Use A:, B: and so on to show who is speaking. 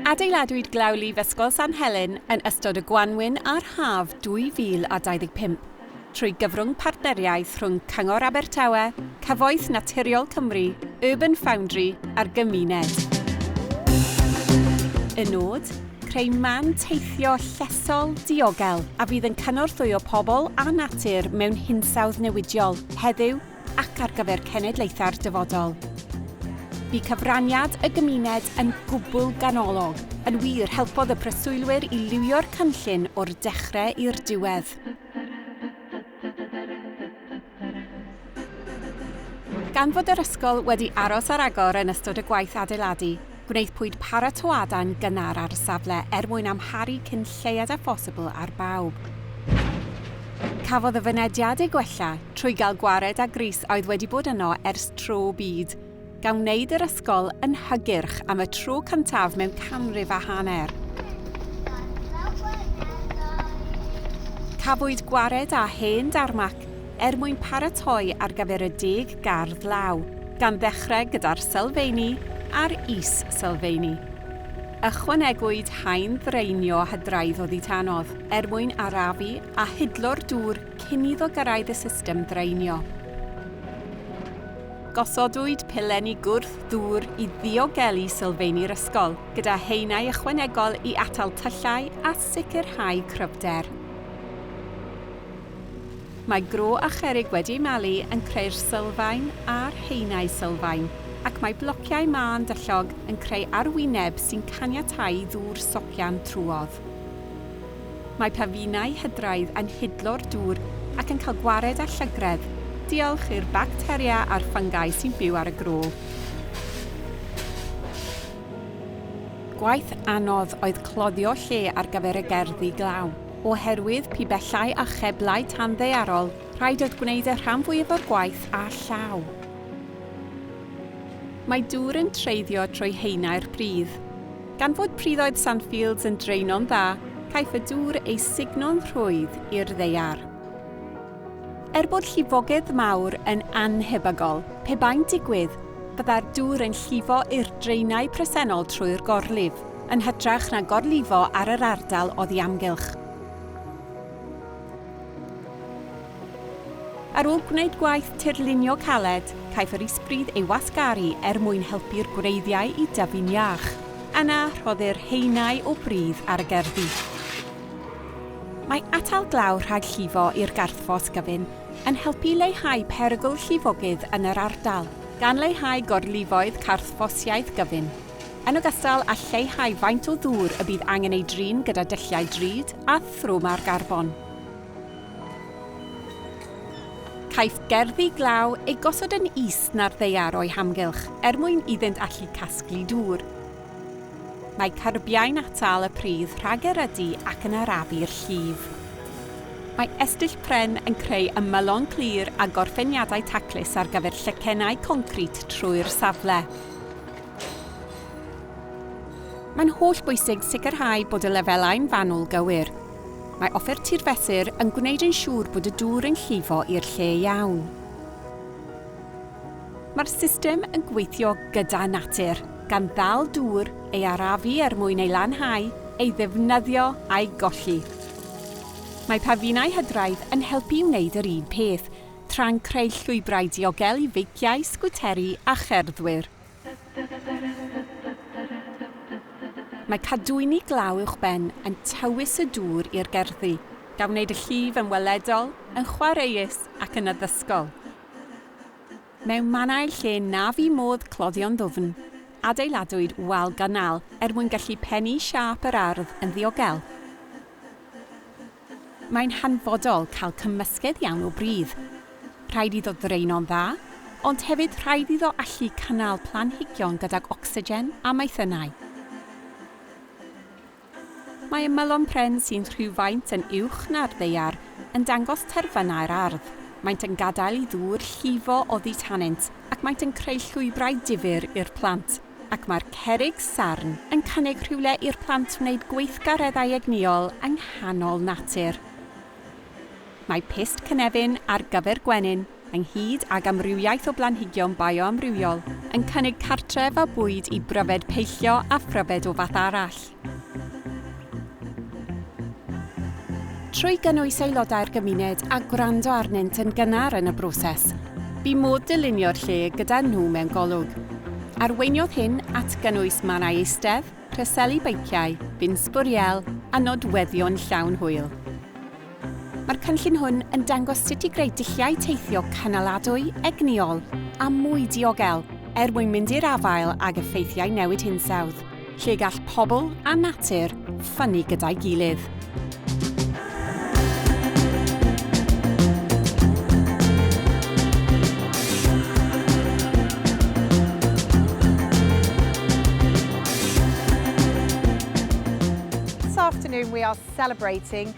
A: Adeiladwyd Glawlyf Ysgol San Helen yn ystod y gwanwyn a'r haf 2025 trwy gyfrwng partneriaeth rhwng Cyngor Abertawe, Cyfoeth Naturiol Cymru, Urban Foundry a'r gymuned. Y nod? Creu man teithio llesol, diogel, a fydd yn cynorthwyo pobl a natur mewn hinsawdd newidiol, heddiw ac ar gyfer cenedlaethau'r dyfodol. Bu cyfraniad y gymuned yn gwbl ganolog. Yn wir, helpodd y preswylwyr i liwio'r cynllun o'r dechrau i'r diwedd. Gan fod yr ysgol wedi aros ar agor yn ystod y gwaith adeiladu, gwnaethpwyd paratoadau'n gynnar ar y safle er mwyn amharu cyn lleied â phosibl ar bawb. Cafodd y fynediad ei gwella trwy gael gwared â grys a oedd wedi bod yno ers tro byd. gan wneud yr ysgol yn hygyrch am y tro cyntaf mewn canrif a hanner. Cafwyd gwared â hen darmac er mwyn paratoi ar gyfer y deg gardd law, gan ddechrau gyda'r sylfeini a'r is-sylfeini. Ychwanegwyd haen ddraenio hydraudd oddi tanodd er mwyn arafu a hidlo'r dŵr cyn iddo gyrraedd y system ddraenio. Gosodwyd pilenni gwrth ddŵr i ddiogelu sylfeini'r ysgol, gyda haenau ychwanegol i atal tyllau a sicrhau cryfder. Mae gro a cherrig wedi eu malu yn creu'r sylfaen a'r haenau sylfaen, ac mae blociau mân dyllog yn creu arwyneb sy'n caniatáu i ddŵr socian trwodd. Mae pafinau hydraidd yn hidlo'r dŵr ac yn cael gwared â llygredd, diolch i'r bacteria a'r ffyngai sy'n byw ar y gro. Gwaith anodd oedd cloddio lle ar gyfer y gerddi glaw. Oherwydd pibellau a cheblau tanddaearol, rhaid oedd gwneud y rhan fwyaf o'r gwaith â llaw. Mae dŵr yn treiddio trwy haenau'r pridd. Gan fod priddoedd Sandfields yn draeno'n dda, caiff y dŵr ei sugno'n rhwydd i'r ddaear. Er bod llifogydd mawr yn annhebygol, pe bai'n digwydd, byddai'r dŵr yn llifo i'r draenau presennol trwy'r gorlif, yn hytrach na gorlifo ar yr ardal oddi amgylch. Ar ôl gwneud gwaith tirlunio caled, caiff yr isbridd ei wasgaru er mwyn helpu'r gwreiddiau i dyfu'n iach. Yna, rhoddir haenau o bridd ar y gerddi. Mae atal glaw rhag llifo i'r garthffos gyfun yn helpu i leihau perygl llifogydd yn yr ardal, gan leihau gorlifoedd carthffosiaeth gyfun, yn ogystal â lleihau faint o ddŵr y bydd angen ei drin gyda dulliau drud a thrwm ar garbon. Caiff gerddi glaw eu gosod yn is na'r ddaear o'u hamgylch er mwyn iddynt allu casglu dŵr. Mae cyrbiau'n atal y pridd rhag erydu ac yn arafu'r llif. Mae estyll pren yn creu ymylon clir a gorffeniadau taclus ar gyfer llycennau concrit trwy'r safle. Mae'n hollbwysig sicrhau bod y lefelau'n fanwl gywir. Mae offer tirfethr yn gwneud yn siŵr bod y dŵr yn llifo i'r lle iawn. Mae'r system yn gweithio gyda natur, gan ddal dŵr ei arafu er mwyn ei lanhau, ei ddefnyddio a'i golli. Mae pafinau hydraidd yn helpu i wneud yr un peth, tra'n creu llwybrau diogel i feiciau, sgwteri a cherddwyr. Mae cadwyni glaw uwchben yn tywys y dŵr i'r gerddi, gan wneud y llif yn weledol, yn chwaraeus ac yn addysgol. Mewn mannau lle na fu modd cloddio'n ddwfn, adeiladwyd wal ganal er mwyn gallu pennu siâp yr ardd yn ddiogel. Mae'n hanfodol cael cymysgedd iawn o bridd. Rhaid iddo ddraeno'n dda, ond hefyd rhaid iddo allu cynnal planhigion gydag ocsigen a maethynnau. Mae ymylon pren sy'n rhywfaint yn uwch na'r ddaear yn dangos terfynau'r ardd, maent yn gadael i ddŵr llifo oddi tanynt ac maent yn creu llwybrau difyr i'r plant. ac mae'r cerrig sarn yn cynnig rhywle i'r plant wneud gweithgareddau egnïol yng nghanol natur. Mae pyst cynefin ar gyfer gwenyn, ynghyd ag amrywiaeth o blanhigion bioamrywiol, yn cynnig cartref a bwyd i bryfed peillio a phryfed o fath arall. Trwy gynnwys aelodau'r gymuned a gwrando arnynt yn gynnar yn y broses, bu modd dylunio'r lle gyda nhw mewn golwg. Arweiniodd hyn at gynnwys mannau eistedd, rheseli beiciau, bin sbwriel a nodweddion llawn hwyl. Mae'r cynllun hwn yn dangos sut i greu dulliau teithio cynaladwy, egnïol a mwy diogel er mwyn mynd i'r afael ag effeithiau newid hinsawdd, lle gall pobl a natur ffynnu gyda'i gilydd.
B: This afternoon we are celebrating